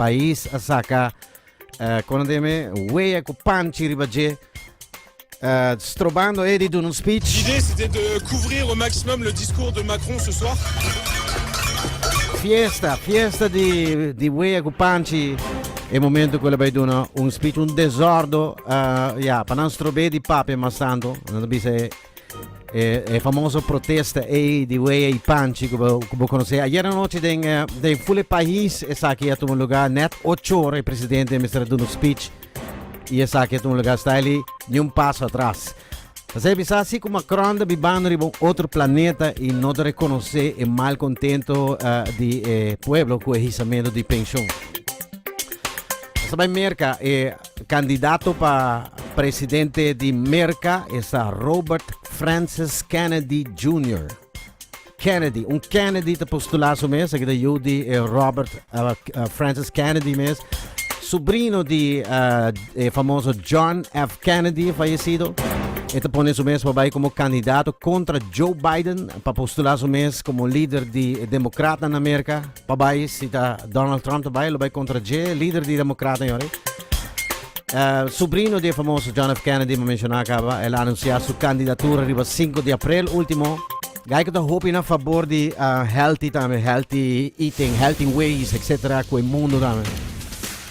pais a saca eh, con deme wea cu panchi riba je eh, strobando e di doen un speech L'idée, c'était de couvrir au maximum le discours de Macron ce soir. fiesta fiesta di di wea cu panchi e momento cu le bai doen un speech un desordo eh, ja pa nan strobe di pape mas tanto nan bisa e E, e famoso protesta ei di Wea i Panchi, ku bo konosé. Ayer anoche den, eh, den fule país, esaki a tuma lugar net ocho ora e presidente Mr. Duno speech. I esaki a tuma lugar staili ni un paso atrás. Así bisa así como Macron de bibando riba un otro planeta y no de reconocer el mal contento uh, de eh, pueblo con el hisamento de pensión. Sabay Merca, eh, Candidato pa presidente di Merca esta Robert Francis Kennedy Junior. Kennedy, un Kennedy ta postula su mes, aki ta yu di e Robert Francis Kennedy mes, subrino di e famoso John F. Kennedy fayesido. E ta pone su mes pa bay como candidato contra Joe Biden pa postula su mes como lider di Democratanan na Merca. Pa bai si ta Donald Trump ta bai lo bai kontra dje lider di Demokrata yon ei. Subrino di e famoso John F. Kennedy mi menshoná kaba el a anunsiá su kandidatura riba sinku di aprel último. Geico ta hopi na fabor di healthy tambe, healthy eating, healthy ways, etcetera ku e mundu tambe.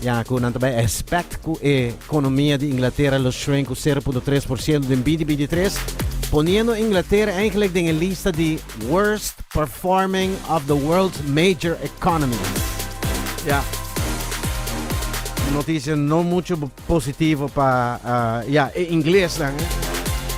Ya cu nan ta bay expect cu e economia di Inglaterra lo shrink cu sero punto tres por ciento den binti binti tres, poniendo Inglaterra eigenlijk den e lista di worst performing of the world's major economies. Ya. Noticia no mucho positivo pa, ya, e ingles nan, eh.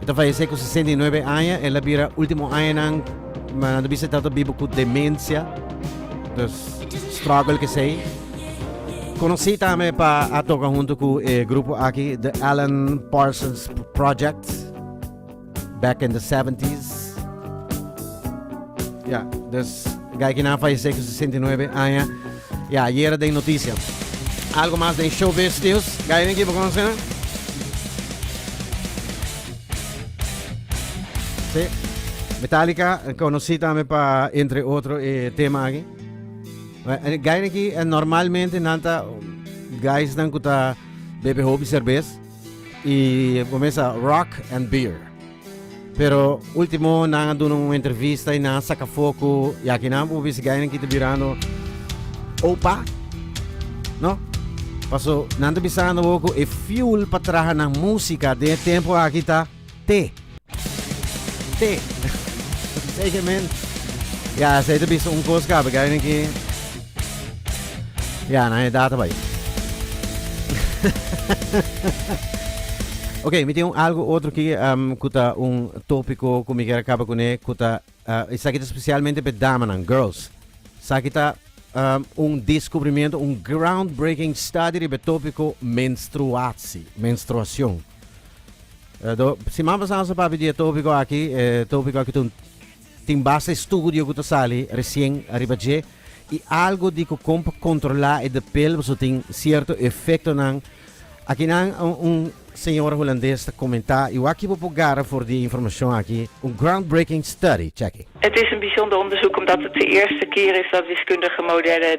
E ta fayesé ku sesenta i nuebe aña. El a bira último añanan, nan ta bisa e tabata biba ku demensia. Dus struggle kesei. Konosí tambe pa a toka huntu ku e grupo aki The Alan Parsons Project back in the seventies. Ya, dus e gaikinan fayesé ku sesenta i nuebe aña. Ya, yera den noticia. Algo mas den showbiz nieuws. Gaya Nicky, bo conoce nan? Sí. Metallica, conoci tambe pa entre otro e tema aki. Gaya Nicky, normalmente nan ta guys nan ku ta bebe hopi cervez y comienza rock and beer. Pero ultimo nan a duna un entrevista y nan a saca foco y aki nan por bisti gainan ki ta birando opa, no? Paso nan ta bisando bo cu e fuel pa traha nan musica den e tempo aki ta te. Te. Sey ke men. Ya, sey ta bisa un cos cabe gainan ki. Ya, nan e data bai. ok, mi tin un algo otro ki um, ku ta un tópiko ku mi kier kaba kuné ku ta uh, esaki ta spesialmente pe damanan, girls. Saki ta um, un deskubrimiento, un groundbreaking study riba e tópiko menstruatie, menstruacion. Uh, do, siman pasado sa papi di e tópiko aki, e tópiko aki ta un Tin basta estudio ku ta sali resien ariba dje i algu di ku kon pa kontrolá e depel pasobra tin sierto efektonan. Akinan un señora hulandes ta komentá i wak bo por gara for di e informashon aki, un groundbreaking study, chèk e. Het is een bijzonder onderzoek omdat het de eerste keer is dat wiskundige modellen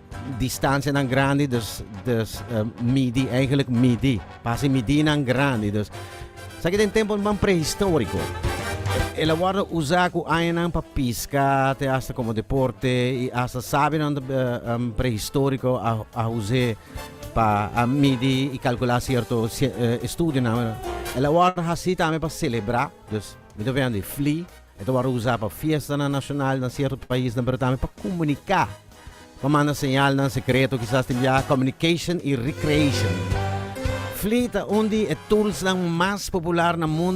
Distancianan grandi dus dus midi eigenlijk midi pasa e midinan grandi dus esaki den temponan prehistorico el a wordo usa cu añanan pa pisca te hasta como deporte y hasta sabionan prehistorico a a huse pa a midi y calcula cierto estudionan el a wordo haci tambe pa celebra dus mi ta wehandi fli. E ta wòrdu usá pa fiestanan nashonal na sierto paisnan pero tambe pa komuniká, pa manda señalnan sekreto, kisas tin biaha communication i recreation. Flee ta un di e toolsnan mas popular na mundu.